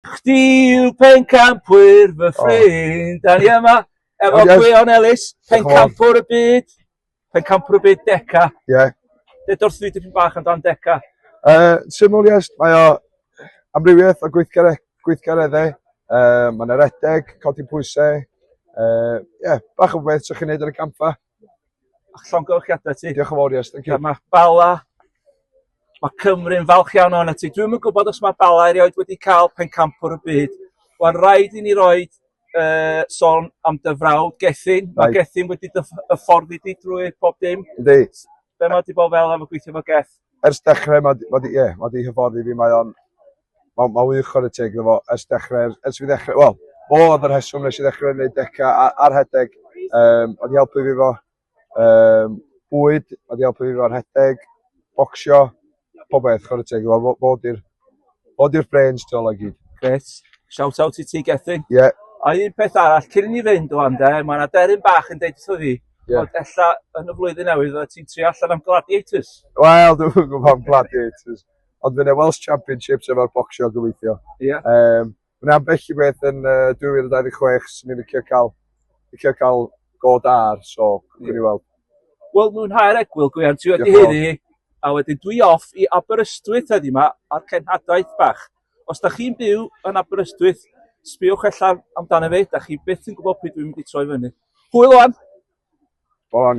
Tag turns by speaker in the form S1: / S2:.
S1: Chdi yw pencampwyr fy ffrind. Da ni yma efo Gwion Ellis, pencampwr y byd. Pencampwr y byd Deca. Ie. Yeah.
S2: Ded wrth fi
S1: dipyn bach amdan Deca. Uh, syml
S2: yes, mae o amrywiaeth o gweithgare, gweithgareddau. Uh, mae'n eredeg, codi pwysau. Ie, uh, yeah, bach o beth sy'ch chi'n neud ar y campfa.
S1: llongyfarchiadau ti. Diolch yn fawr, yes, thank you. Mae
S2: Bala,
S1: mae Cymru'n falch iawn o'n ti. Dwi'n yn gwybod os mae Bala erioed wedi cael pencampwr y byd. Wel, rhaid i ni roi uh, son am dy frawd, Gethin. Mae Gethin wedi dy ffordd i di drwy pob dim. Ydy. Be
S2: mae wedi bod
S1: fel am y gweithio fo Geth? Ers dechrau,
S2: mae wedi, ie, yeah, mae wedi hyfforddi fi, mae o'n Mae'n ma wych chwarae teg iddo fo ers dechrau, ers fi ddechrau, wel, o oedd yr heswm nes i ddechrau wneud deca a, ar rhedeg. Um, oedd i helpu fi fo um, bwyd, oedd i helpu fi fo rhedeg, bocsio, pob beth chwarae teg iddo fo. Fod i'r fod i'r brains to like gyd. Gret. Shout
S1: out i ti, Gethin. Ie. Yeah. A un
S2: peth arall,
S1: cyn i ni fynd o ande, mae yna deryn bach yn deud wrtho fi, yeah. ond ella yn y flwyddyn newydd oedd ti'n tri allan am Gladiators. Wel, dwi'n
S2: gwybod am Gladiators. Ond fydd 'na Welsh Championships efo'r bocsio gobeithio. Ie. Yeah. Um,
S1: Mae yna ambell
S2: i beth yn uh, 2026 sy'n ni'n licio cael, licio cael go dar, so gwni yeah. weld. Wel, mwynhau'r
S1: egwyl, Gwian, ti wedi hynny. A wedyn dwi off i Aberystwyth heddi yma a'r cenhadaeth bach. Os da chi'n byw yn Aberystwyth, sbiwch allan amdano fe, da chi beth yn gwybod pryd dwi'n mynd i troi fyny. Hwyl o'n! Bron,